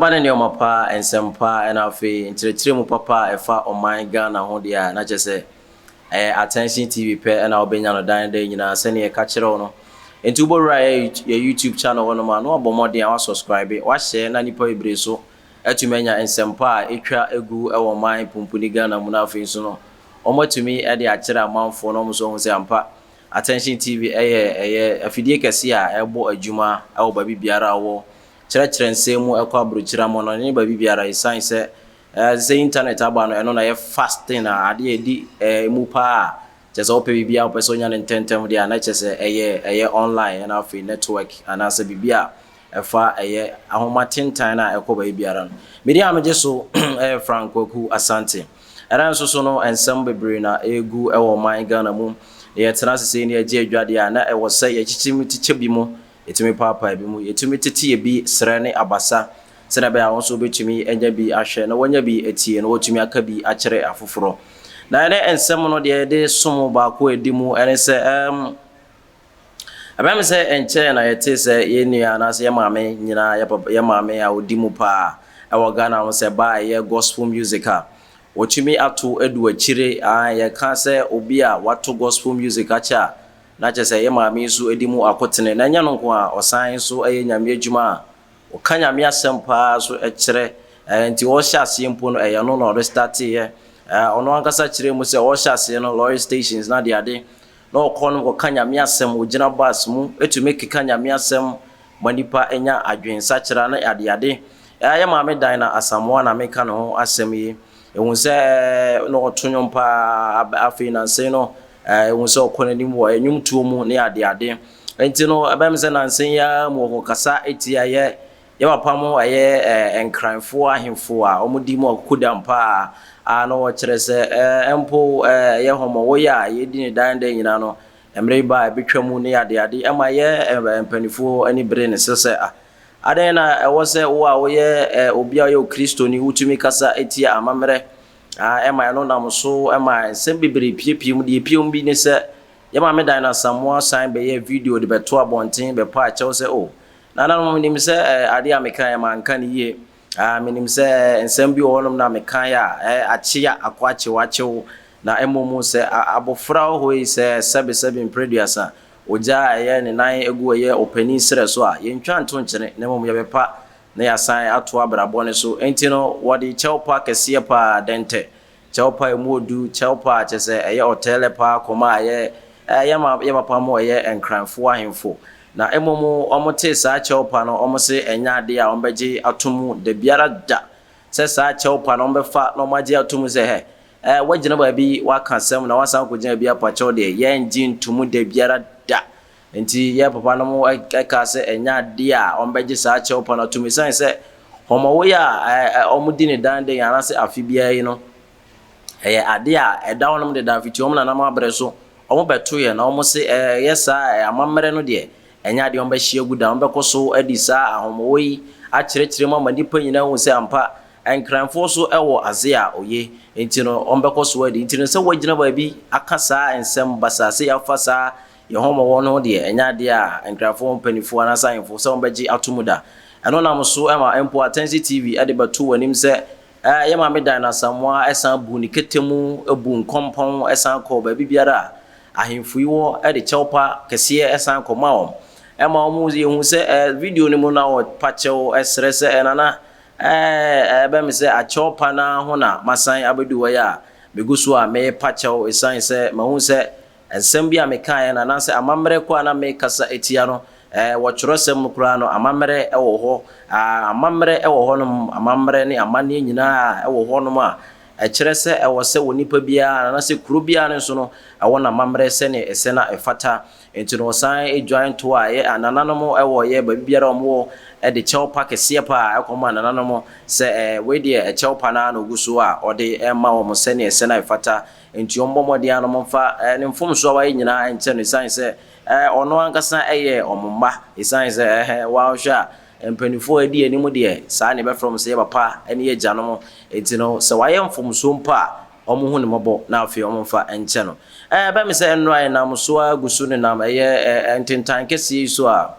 Ba ne nneɛma pa, nsɛm pa, ɛna afei nkyerɛkyerɛ mu papa a ɛfa ɔman Ghana ho deɛ a, na kyerɛ sɛ ɛyɛ Attention TV pɛ ɛna wobɛnya no dan dan nyinaa sɛdeɛ yɛka kyerɛ wo no. Nti wobɛwura yɛ YouTube channel hɔ nom a na wabɔ mmɔden a wasubscribe, wahyɛ na nnipa bebree so atumi anya nsɛmpa a ɛtwa gu wɔ ɔman pumpuni Ghana mu no afei nso no wɔatumi de akyerɛ amanfoɔ na wɔn nso ahu sɛ ampa Attention TV yɛ ɛyɛ afidie kɛseɛ a ɛbɔ adwuma wɔ baabi biara a wɔ kyerɛkyerɛ nsɛm mu ɛkɔ aburokyire amɔnɔne ne baabi biara ɛsiane sɛ ɛɛ sɛ internet aba no ɛno na ɛyɛ fast thing a adeɛ ɛdi ɛɛ mu paa a kyɛ sɛ wopɛ biribi a wopɛ sɛ wonya no ntɛntɛm deɛ a na kyɛ sɛ ɛyɛ ɛyɛ online ɛna afei network anaasɛ biribi a ɛfa ɛyɛ ahoma tentan no a ɛkɔ baabi biara no. Me din a megye so yɛ Frank Kwaku Asante. Ɛda nso so no, nsɛm bebree na ɛregu wɔ ɔman Ghana mu. Yɛtena ase sei na yɛgye adwadeɛ a, na ɛwɔ sɛ yɛkyekye mu kyekyɛ bi mu, yɛtumi paapae bi mu, yɛtumi tete ebi serɛ ne abasa sɛdeɛ ɛbɛyɛ a wɔn nso wɔbɛtumi anya bi ahwɛ na wɔanya bi atie na wɔatumi aka bi akyerɛ afoforɔ. Na ɛnɛ nsɛm no deɛ yɛde som baako a ɛdi mu ne sɛ, Ɛbɛyɛ me sɛ ɛnkyɛe na yɛtee sɛ yɛn nua anaasɛ yɛn maame nyina yɛn papa yɛn maame a ɔdi mu paa wɔ Ghana no sɛ ba a ɛyɛ gospel music a wɔtumi ato adu akyire ae yɛka sɛ obi a wato gospel music akyɛ a na kyerɛ sɛ yɛn maame yi nso di mu akotene na ɛnyɛ no nko a ɔsan nso yɛ Nyame adwuma a ɔka Nyame asɛm paa nso kyerɛ ɛɛ nti ɔhyɛ aseɛ mpo no ɛyɛ no na ɔde starteeɛ ɛɛ ɔno ankasa kyerɛ mu sɛ ɔhyɛ aseɛ no lorry stations na adeade na ɔkɔ no kɔka Nyame asɛm, ɔgyina bus mu tumi keka Nyame asɛm ma nipa nya adwen sakyera ne adeade. Ɛha yɛ Maame Dinah Asamoah na meka ne ho asɛm yi. Ɛhu sɛ na ɔto nwom paa, afei nansei no ɛhu sɛ ɔkɔ n'anim wɔ nwomtuo mu ne adeade. Nti no ɛbɛyɛ me sɛ nansei yi ara mu ɔkɔkasa tia yɛ Yɛ papa mo ɛyɛ eh Nkran foɔ ahemfo a ɔmo di mo akukodam paa a na ɔwɔ kyerɛ sɛ eh mpo eh ɛyɛ hɔmɔ wɔ yɛ a yɛ di ne dan dɛn nyina no ɛmere ba a ɛbetwa mu ne ade ade ɛma yɛ eh mpanifoɔ ani bere ne sɛ sɛ ah adɛn na ɛwɔ sɛ wo a woyɛ eh obi a ɔyɛ okristoni wo tumi kasa tia amamerɛ ah ɛma ɛno nam so ɛma nsɛm bebree piepie mu deɛ epie mu bi ne sɛ yɛ maame Dinah Samoa san bɛyɛ video de bɛto abɔnten bɛpa akyɛw sɛ oh Nananom, menim sɛ adeɛ a mekaeɛ manka no yie. Menim sɛ nsɛm bi wɔ hɔnom na mekaeɛ a akyea akɔ akyew akyew, na mmom sɛ abɔfra wɔ hɔ yi sɛ sɛbesɛbe mprɛduasa, ogya a ɛyɛ ne nan agu ɛyɛ ɔpanin serɛ so a, yɛntwa nto nkyene, na mmom yɛbɛpa na yɛasan ato abrabɔ no so. Enti no, wɔde kyɛwpa kɛseɛ pa ara dɛntɛ Kyɛwpa a emu odu, Kyɛwpa a kyɛsɛ ɛyɛ ɔtɛɛlɛ paa kɔm a ɛyɛ a ɛyɛ ma yɛ papa mo ɛyɛ Nkranfoɔ ahemfo. Na mmom wɔn tee saa Kyɛwpa no wɔn se ɛnyɛ adeɛ a wɔn bɛgye ato mu dabiara da sɛ saa Kyɛwpa no wɔn bɛfa na wɔn agye ato mu sɛ hɛ ɛɛ wagyina baabi waka asɛm na wasan akɔgyina baabi apakyɛw deɛ yɛngye nto mu dabiara da Enti yɛn papanom kaa sɛ ɛnyɛ adeɛ a wɔbɛgye saa kyɛwpa no atom esiane sɛ hɔmɔwoeɛ a wɔdi no daa da yi anaasɛ afe biara yi no yɛ adeɛ a ɛda hɔnom dedaa fiti wɔn nananom aberɛ so wɔbɛtoeɛ na wɔse ɛyɛ saa a amammerɛ no deɛ ɛnyɛ adeɛ a wɔbɛhye agu da. Wɔbɛkɔ so adi saa ahɔmɔwɔ yi akyerɛkyerɛ mu ama nnipa nyinaa ahu sɛ ampa Nkranfoɔ so wɔ aze a oye nti no wɔbɛkɔ so adi. Nti no sɛ woagyina baabi aka saa nsɛm basaa sei afa saa Yɛn hɔ mmɔbɔ no deɛ, ɛnyɛ adeɛ a Nkrafoɔ mpaninfoɔ anaasɛ ahemfo sɛ wɔbɛgye ato mu da. Ɛno nam so ma mpo Atɛnse TV de bɛto wɔn anim sɛ, Ɛɛ, yɛn Maame Diana Asamoah san buu ne kɛtɛ mu, buu nkɔmpɔn san kɔɔ baabi biara a ahemfo yi wɔ de kyɛwpa kɛseɛ san kɔmaa wɔn. Ɛma wɔn, yɛhu sɛ ɛɛ, video no mu na wɔpa kyɛw srɛ sɛ, ɛɛ, Nana, ɛɛ, ɛbɛyɛ me sɛ akyɛwpa no ara ho na masan abɛdu hɔ yi a, megu so a merepa kyɛw ɛsiane sɛ mahu sɛ Nsɛm bi a mekaeɛ no, anaasɛ amammerɛ ko a na merekasa tia no, ɛɛ, wɔ twerɛsɛm mu koraa no, amammerɛ wɔ hɔ. Aa, amammerɛ wɔ hɔnom, amammerɛ ne amanneɛ nyinaa wɔ hɔnom a ɛkyerɛ sɛ ɛwɔ sɛ onipa biara, anaasɛ kuro biara nso no, ɛwɔ n'amammerɛ sɛdeɛ ɛsɛ na ɛfata. Enti no, wɔsan dwan toɔ a yɛ anananom wɔ yɛ baabi biara a wɔwɔ de kyɛwpa kɛseɛ pa ara kɔma anananom sɛ, ɛɛ, wei deɛ, ɛkyɛwpa no ara na ɔgu so a ɔde rema wɔn sɛdeɛ ɛsɛ na ɛfata. Enti wɔmmɔ mmɔden ara na wɔmfa ne mfomso a wayɛ nyinaa nkyɛ no esiane sɛ ɔno ankasa yɛ wɔn mma. Esiane sɛ woanhwɛ a, mpanimfoɔ a edi anim deɛ, saa na yɛbɛfrɛ wɔn sɛ yɛn papa ne yɛn agyanom. Enti no, sɛ wayɛ mfomsoɔ mpo a, wɔnhu no mmɔbɔ na afei wɔmfa nkyɛ no. Ɛbɛyɛ me sɛ nnora a yɛnam so ara gu so nenam ɛyɛ ntentan kɛseɛ yi so a,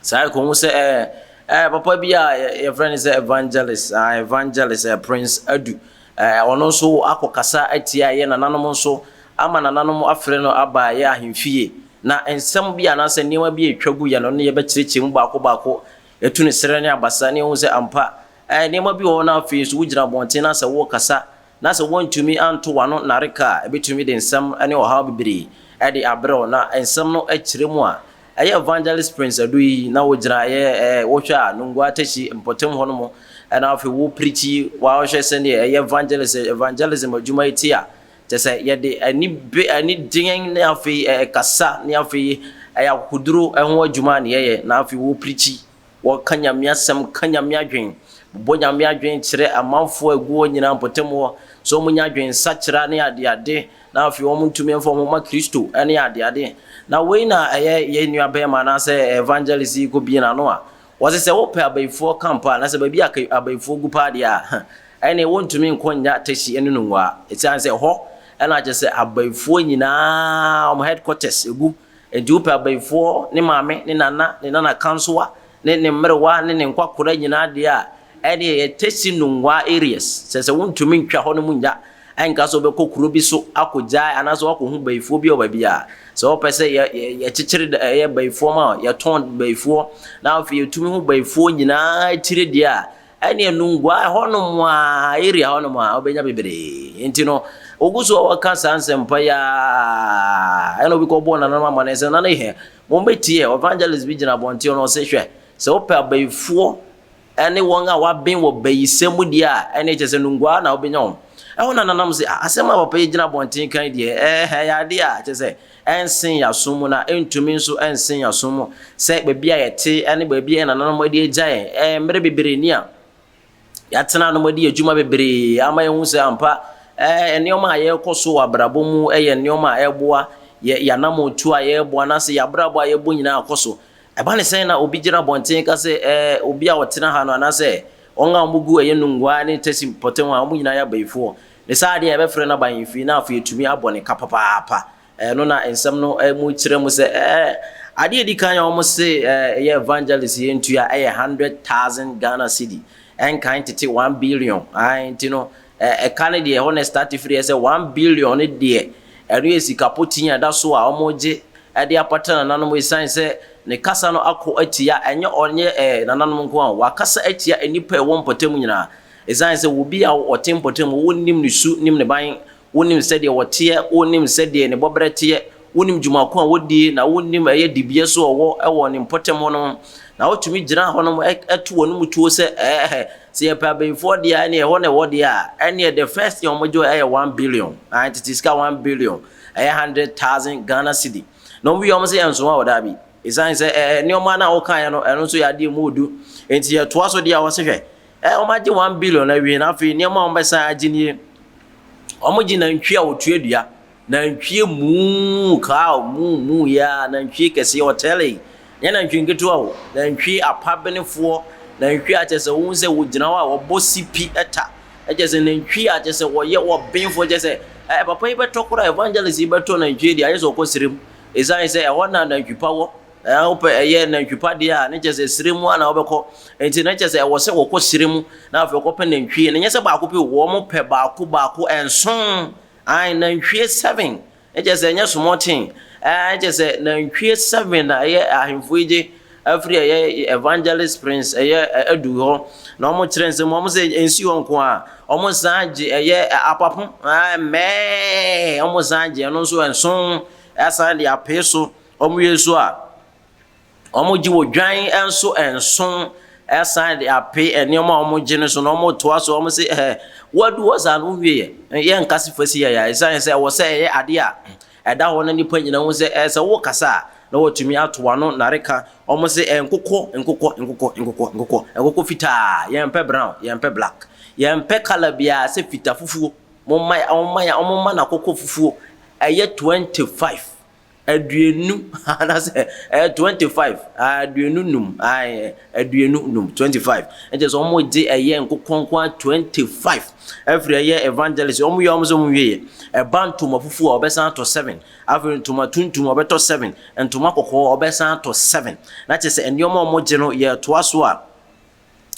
Saa ara kɔhu sɛ ɛɛ ɛɛ papa bi a yɛfrɛ no sɛ evangelist ah evangelist ɛɛ prince adu ɛɛ ɔno nso akɔkasa atia yɛ nananom nso ama nananom afrɛ no aba yɛ ahemfie na nsɛm bi anaasɛ nneɛma bi a ɛtwa gu yɛ no ne yɛbɛkyerɛkyerɛ mu baako baako yɛtu ne serɛ ne abasa ne yɛhu sɛ ampa ɛɛ nneɛma bi wɔ hɔ na afei nso wogyina abɔnten na sɛ wokasa na sɛ woantumi anto w'ano nnareka a, ebetumi de nsɛm ne ɔhaw bebree de abrɛ wo. Na nsɛm no kyerɛ mu a, ɛyɛ Evangelist Prince Adu yi na wogyina ɛyɛ ɛɛ wohwɛ a Nungua Teshie mpɔtam hɔ no mo na afei wo preachi wa wohwɛ sɛdeɛ ɛyɛ evangelist evangelism adwuma yi te a, kyɛ sɛ yɛde ani be ani deɛn ne afei ɛɛ kasa ne afei ɛyɛ akokoduro ho adwuma ne yɛyɛ na afei wo preachi. Wɔka Nyame asɛm, ka Nyame adwen, bobɔ Nyame adwen kyerɛ amanfoɔ a ɛgu hɔ nyinaa mpɔtam hɔ, sɛ wɔn nya adwen sakyera ne adeade, na afei wɔn ntumi mfa wɔn ho ma Kristo ne adeade. Na wei na ɛyɛ yɛn nua bɛɛma anaasɛ evangelist yi kɔ bie n'ano a, wɔse sɛ wopɛ abayifoɔ camp a, anaasɛ baabi a abayifoɔ gu paa deɛ a, ɛnneɛ wontumi nkɔ nnya tɛsi ɛne no nwua, ɛsiane sɛ ɛhɔ na kyerɛ sɛ abayifoɔ nyinaa wɔn headquarters gu. Enti wopɛ abayifoɔ, ne maame, ne nana, ne nanakansowa, ne ne mmerewa, ne ne nkwakora nyinaa deɛ a, ɛnneɛ yɛ Tesi Nungwaa areas. Sɛ sɛ wontumi ntwa hɔnom nnya, ɛnka sɛ wobɛkɔ kuro bi so akɔgyae anaasɛ woakɔhu bayifoɔ bi wɔ baabi a. Sɛ wopɛ sɛ yɛ, yɛ, yɛkyekyere dɛ, ɛyɛ bayifoɔ ma wo, yɛtɔn bayifoɔ, na afei yɛtumi hu bayifoɔ nyinaa tire deɛ a, Ɛneɛ Nungua hɔnom a, area hɔnom a, wobɛnya bebree. Nti no, ogu so a wɔka saa nsɛmpa yi ara, ɛna obi kɔbɔɔ nananom amanneɛ sɛ, nana hɛ, mommɛtie, evangelist bi gyina abɔnten no ɔse, hwɛ, sɛ wopɛ abayifoɔ ne wɔn a wɔaben wɔ bayisɛm mu deɛ a, ɛneɛ kyerɛ sɛ Nungua hɔ na wobɛnya wɔn. Ɛhɔ na nananom se, ah, asɛm a papa yi gyina abɔnten kan deɛ, ɛɛ, ɛyɛ adeɛ a, kyerɛ sɛ, ɛnsen yɛn asom mu, na ɛntumi nso nsen yɛn asom mu sɛ baabi a yɛte ne baabi a yɛn nananom adi agya yɛn mmere bebree ni a yɛatena ano adi adwuma bebree ama yɛahu sɛ ampa nneɛma a yɛrekɔ so wɔ abrabɔ mu yɛ nneɛma a ɛreboa yɛ yɛanammɔntuo a yɛrebɔ anaasɛ yɛ abrabɔ a yɛbɔ nyinaa akɔ so. Ɛba ne sɛn na obi gyina abɔnten ka sɛ ɛɛ obi a ɔtena ha no anaasɛ wɔn a wɔgu ɛyɛ nnongua ne tasi mpɔtam a wɔn nyinaa yɛ abayifoɔ? Ne saa adeɛ a yɛbɛfrɛ no abahemfie no afei atumi abɔ ne ka papaapa. Ɛno na nsɛm no mu kyerɛ mu sɛ, ɛɛ, adeɛ a ɛdi kan a wɔse yɛ evangelist yɛ ntua yɛ hundred thousand Ghana cedi, ɛnkan tete one billion, ae, nti no ɛka no deɛ ɛhɔ na ɛstarte firi, ɛyɛ sɛ one billion no deɛ ɛno yɛ sika potii a ɛda so a wɔregye de apata nananom ɛsiane sɛ ne kasa no ako atia, ɛnyɛ ɔne nananom nko ara o, wakasa atia nnipa a ɛwɔ mpɔtam nyinaa, Esiane sɛ obi a ɔte mpɔtam hɔ, wonim ne su, nim ne ban, wonim sɛdeɛ ɔteɛ, wonim sɛdeɛ ne bɔberɛ teɛ, wonim dwuma ko a ɔdie, na wonim ɛyɛ dibea so a ɔwɔ wɔ ne mpɔtam hɔ no, na wotumi gyina hɔ nom to w'anom tuo sɛ, Ɛɛhɛ, sɛ yɛpɛ abayifoɔ deɛ a, ɛneɛ ɛhɔ na ɛwɔ deɛ a, ɛneɛ the first thing a wɔgye wɔ ɛyɛ one billion, ae, tete sika one billion, ɛyɛ hundred thousand Ghana cedi. Na wɔwie a, wɔse yɛnsoa wo, daabi. Esiane sɛ ɛɛ, nneɛma no a wokaeɛ no, ɛno nso yɛ adeɛ a ɛmu ɔdu. Enti yɛtoa so deɛ a, wɔse hwɛ, Ɛ, wɔagye one billion awie na afei nneɛma a wɔbɛsan agye nie. Wɔgye nantwie a ɔtua dua, nantwie muu, cow muu muu yi ara, nantwie kɛseɛ ɔtɛlei, nyɛ nantwie nketewa o, nantwie apabenefoɔ, nantwie a kyerɛ sɛ wohu sɛ wɔgyina hɔ a wɔbɔ sipi ta, kyerɛ sɛ nantwie a kyerɛ sɛ wɔyɛ ɔbenfoɔ, kyerɛ sɛ ɛ, papa yi bɛtɔ koraa, evangelist yi bɛtɔ nantwie deɛ ayɛ sɛ ɔkɔ serem, ɛsiane sɛ ɛhɔ na nantwi pa wɔ. Ɛɛ, wopɛ ɛyɛ nantwi pa deɛ a, na kyerɛ sɛ serɛ mu ara na wobɛkɔ. Enti na kyerɛ sɛ ɛwɔ sɛ wɔkɔ serɛ mu, na afei wɔkɔpɛ nantwie. Na ɛnyɛ sɛ baako pɛ o, wɔpɛ baako baako nson, aane, nantwie seven. Na kyerɛ sɛ ɛnyɛ small thing. Ɛɛ, na kyerɛ sɛ nantwie seven na ɛyɛ ahemfo yi gye firi ɛyɛ Evangelist Prince ɛyɛ Adu hɔ, na wɔkyerɛ nsɛm mu. Wɔse ɛnsi hɔ nko ara, wɔsan gye ɛyɛ apapo, aane, mmɛɛɛ, wɔsan gye ɛno nso nson, asan de apee so. Wɔwie nso a, wɔgye odwan nso nso san de ape nneɛma a wɔgye no so na wɔtoa so. Wɔse ɛhɛ, woadu hɔ saa no wowieɛ. Yɛnka se fa si ha yi ara ɛsiane sɛ ɛwɔ sɛ ɛyɛ adeɛ a ɛda hɔ na nnipa nyinaa hu sɛ ɛɛ sɛ wokasa a na watumi ato w'ano nareka. Wɔse ɛɛ nkokɔ, nkokɔ, nkokɔ, nkokɔ, nkokɔ, nkokɔ fitaa, yɛmpɛ brown, yɛmpɛ black, yɛmpɛ colour biara sɛ fita fufuo. Momma, wɔmma, wɔmma no akokɔ fufuo. Ɛyɛ 25. Aduonu anaasɛ ɛyɛ twenty five aduonu num ae aduonu num twenty five ɛkyɛ sɛ wɔn gye ɛyɛ nkokɔ nkoa twenty five ɛfiri ɛyɛ evangelist wɔn yɛ wɔn sɛ wɔn wie yɛ ɛba ntoma fufuo a ɔbɛsan atɔ seven afei ntoma tuntum ɔbɛtɔ seven ntoma kɔkɔɔ ɔbɛsan atɔ seven na kyɛ sɛ nneɛma a wɔn gye no yɛ toa so a.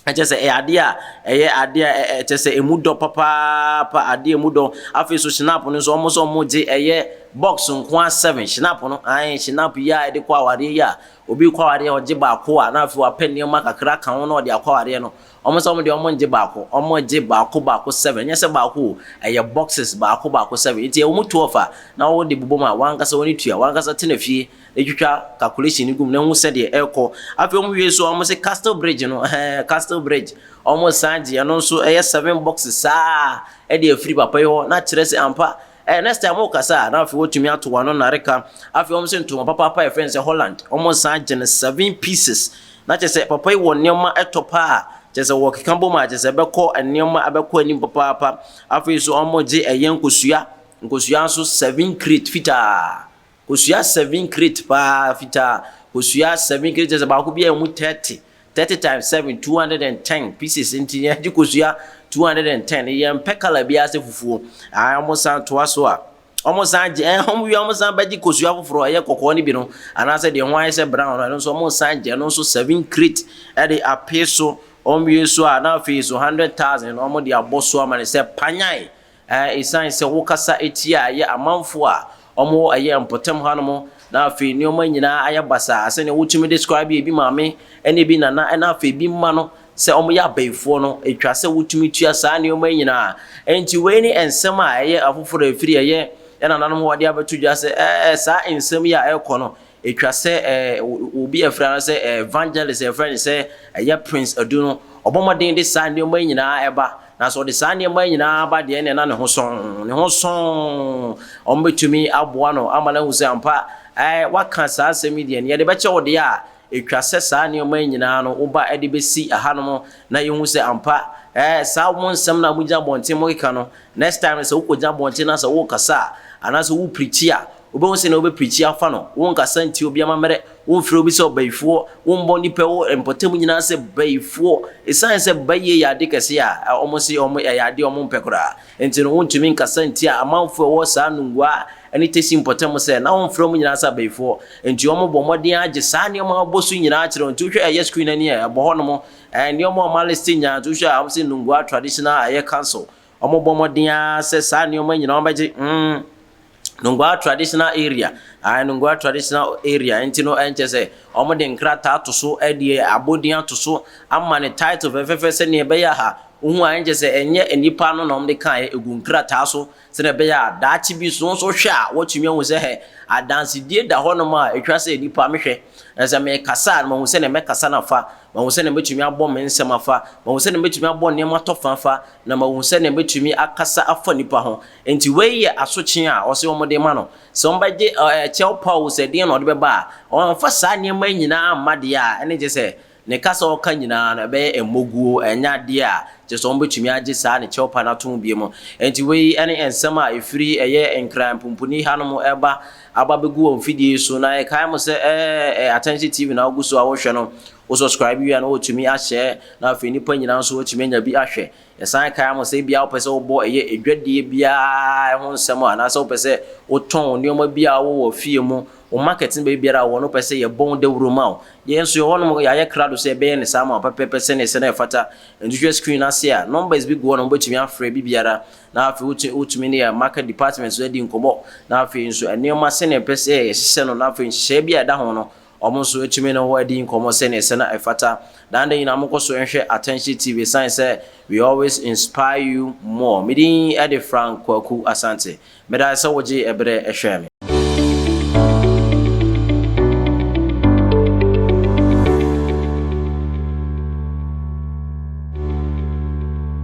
Ɛkyerɛ sɛ ɛyɛ adeɛ a ɛyɛ adeɛ a ɛkyerɛ sɛ ɛmu dɔ papaapa, adeɛ ɛmu dɔ. Afei nso Schnapp no nso, wɔn nso wɔgye ɛyɛ box nko ara seven, Schnapp no, ae, Schnapp yi a yɛde kɔ awadeɛ yi a, obi rekɔ awadeɛ a ɔgye baako a, na afei wapɛ nneɛma kakra aka ho na ɔde akɔ awadeɛ no, wɔn nso wɔn deɛ wɔngye baako, wɔgye baako baako seven, ɛnyɛ sɛ baako o, ɛyɛ boxes baako baako seven, nti ɛwɔ mu twelve a, na wode bobɔ mu a, w'ankasa w'ani tua, w'ankasa tena fie. Etwitwa calculation no gu mu na ehu sɛdeɛ ɛrekɔ. Afei wɔn wie nso a wɔsi castle bridge no ɛhɛn castle bridge wɔn san gye ɛno nso ɛyɛ seven boxes saa ɛde afiri papa yi hɔ na akyerɛ sɛ ampa ɛɛ next time ɔkasa a na afei wɔtumi ato wɔn ano nareka. Afei wɔn si ntoma papaapa a yɛfrɛ no sɛ Holland wɔn san gye no seven pieces na kyerɛ sɛ papa yi wɔ nneɛma ɛtɔ paa kyerɛ sɛ wɔkeka bom a kyerɛ sɛ ɛbɛkɔ nneɛma ɛbɛkɔ anim papaapa. Afei nso wɔn gye ɛyɛ nkosua nkosua nso seven crate fitaa Kosua seven crate paa fitaa kosua seven crate kyerɛ sɛ baako biara emu thirty thirty times seven two hundred and ten pieces nti yɛn gye kosua two hundred and ten yɛn mpɛ colour biara sɛ fufuo ayi wɔn san toa so a wɔn san gye ɛn wɔn wia wɔn san bɛgye kosua foforɔ ɛyɛ kɔkɔɔ no bi no anaasɛ deɛ ho ayɛ sɛ brown no ɛno nso wɔn san gye ɛno nso seven crate ɛde apee so wɔn wie so a na afei so hundred thousand wɔn de abɔ so ama ne sɛ panyan. A Esiane sɛ wokasa tia ɛyɛ amanfoɔ a wɔwɔ ɛyɛ mpɔtam hanom na afei nnoɔma nyinaa ayɛ basaa sɛdeɛ wotumi describe ebi maame ne ebi nana na afei ebi mma no sɛ wɔyɛ abayifoɔ no, ɛtwa sɛ wotumi tua saa nnoɔma yi nyinaa. Enti wei ne nsɛm a ɛyɛ afoforɔ a ɛfiri ɛyɛ yɛn nananom hɔ wɔde abɛto dwa sɛ ɛɛ saa nsɛm yi a ɛrekɔ no Etwa sɛ obi a yɛfrɛ no sɛ evangelist a yɛfrɛ no sɛ ɛyɛ Prince Adu no, ɔbɔ mmɔden de saa nneɛma yi nyinaa ba. Na sɛ ɔde saa nneɛma yi nyinaa ba deɛ ɛnneɛ na ne ho sɔnn, ne ho sɔnn. Wɔbɛtumi aboa no ama no ahu sɛ ampa, ɛɛ, woaka saa asɛm yi deɛ, nea yɛde bɛkyɛ wo deɛ a, etwa sɛ saa nneɛma yi nyinaa no woba de bɛsi hanom na yɛhu sɛ ampa, ɛɛ, saa mo nsɛm no a mogyina abɔnten mokeka no, next time no sɛ wokɔgyina abɔnten na sɛ worekasa a, anaasɛ woreprikyi a, Wobɛhu sɛnea wobɛprikyi afa no. Wonkasa ntia obi amammerɛ, womfrɛ obi sɛ ɔbayifoɔ, wommɔ nnipa wɔ mpɔtam nyinaa sɛ bayifoɔ. Ɛsiane sɛ bayie yɛ ade kɛseɛ a wɔse ɛyɛ adeɛ a wɔmpɛ koraa nti no, wontumi nkasa ntia amanfoɔ a ɛwɔ saa Nungua ne Tesi mpɔtam sɛ na wɔmfrɛ wɔn nyinaa sɛ abayifoɔ. Nti wɔbɔ mmɔden ara gye saa nneɛma a wɔbɔ so nyinaa kyerɛ wo. Nti wohwɛ ɛyɛ screen ani a ɛbɔ hɔnom, nneɛma a wɔaliste nyinaa, nti wohwɛ a wɔse Nungua Traditional ɛyɛ Council, Wɔbɔ mmɔden ara sɛ saa nneɛma nyinaa wɔbɛgye. Hmm. Nungua traditional area. Ae, Nungua traditional area. Nti no, ɛnkyɛ sɛ wɔde nkrataa ato so, ɛde abɔdin ato so, ama ne title fɛfɛɛfɛ sɛnea ɛbɛyɛ a ha wohu a ɛnkyɛ sɛ ɛnyɛ nnipa no na wɔde kaeɛ ɛgu nkrataa so sɛnea ɛbɛyɛ a daakye bi so nso hwɛ a wɔtumi ahu sɛ hɛ adansedie da hɔnom a ɛtwa sɛ nnipa mehwɛ na sɛ mekasa a mahu sɛnea mɛkasa no afa mahu sɛnea mɛtumi abɔ me nsɛm afa mahu sɛnea mɛtumi abɔ nneɛma tɔfa afa na mahu sɛnea metumi akasa afa nnipa ho. Enti wei yɛ asotwe a ɔse wɔde rema no. Sɛ wɔbɛgye kyɛw pa oo, sɛ deɛn na ɔde bɛba a, ɔmfa saa nneɛma yi nyinaa mma deɛ a ɛne kyerɛ sɛ ne kasa a ɔka nyinaa no ɛbɛyɛ mmɔguo, ɛnyɛ adeɛ a kyerɛ sɛ wɔbɛtumi agye saa ne kyɛw pa no atom biom. Enti wei ne nsɛm a ɛfiri ɛyɛ Nkran mpumpuni hanom reba aba abɛgu wɔ mfidie yi so, na yɛkae mo sɛ ɛyɛ Atɛnhye TV na wogu so a worehwɛ no. Wo subscribe wie a na wɔtumi ahyɛ na afei nnipa nyinaa nso wɔtumi anya bi ahwɛ. Yɛsan kae ama sɛ ebia wopɛ sɛ wobɔ ɛyɛ adwadie biara ho nsɛm a anaasɛ wopɛ sɛ wotɔn nneɛma bi a wowɔ wɔ fie mu, wo market no baabi biara a wowɔ no wopɛ sɛ yɛbɔ ho dawuro ma wo. Yɛn nso yɛwɔ hɔnom yɛayɛ krado sɛ yɛbɛyɛ no saa ama wo pɛpɛɛpɛ sɛnea sɛnea ɛfata. Nti hwɛ screen no ase a numbers bi gu hɔ nom wobɛtumi afrɛ bi biara na afei wotumi ne yɛn market department nso adi nkɔmmɔ na afei nso nneɛma sɛnea ɛpɛ sɛ yɛhyehyɛ no na afei nhyehyɛeɛ bi a ɛda ho no Wɔn nso atumi ne wo adi nkɔmmɔ sɛnea ɛsɛ na ɛfata. Daa nda nyinaa monkɔ so nhwɛ Atɛnhye TV esiane sɛ we always inspire you more. Me din de Frank Kwaku Asante. Meda ase sɛ wogyee bere hwɛɛ me.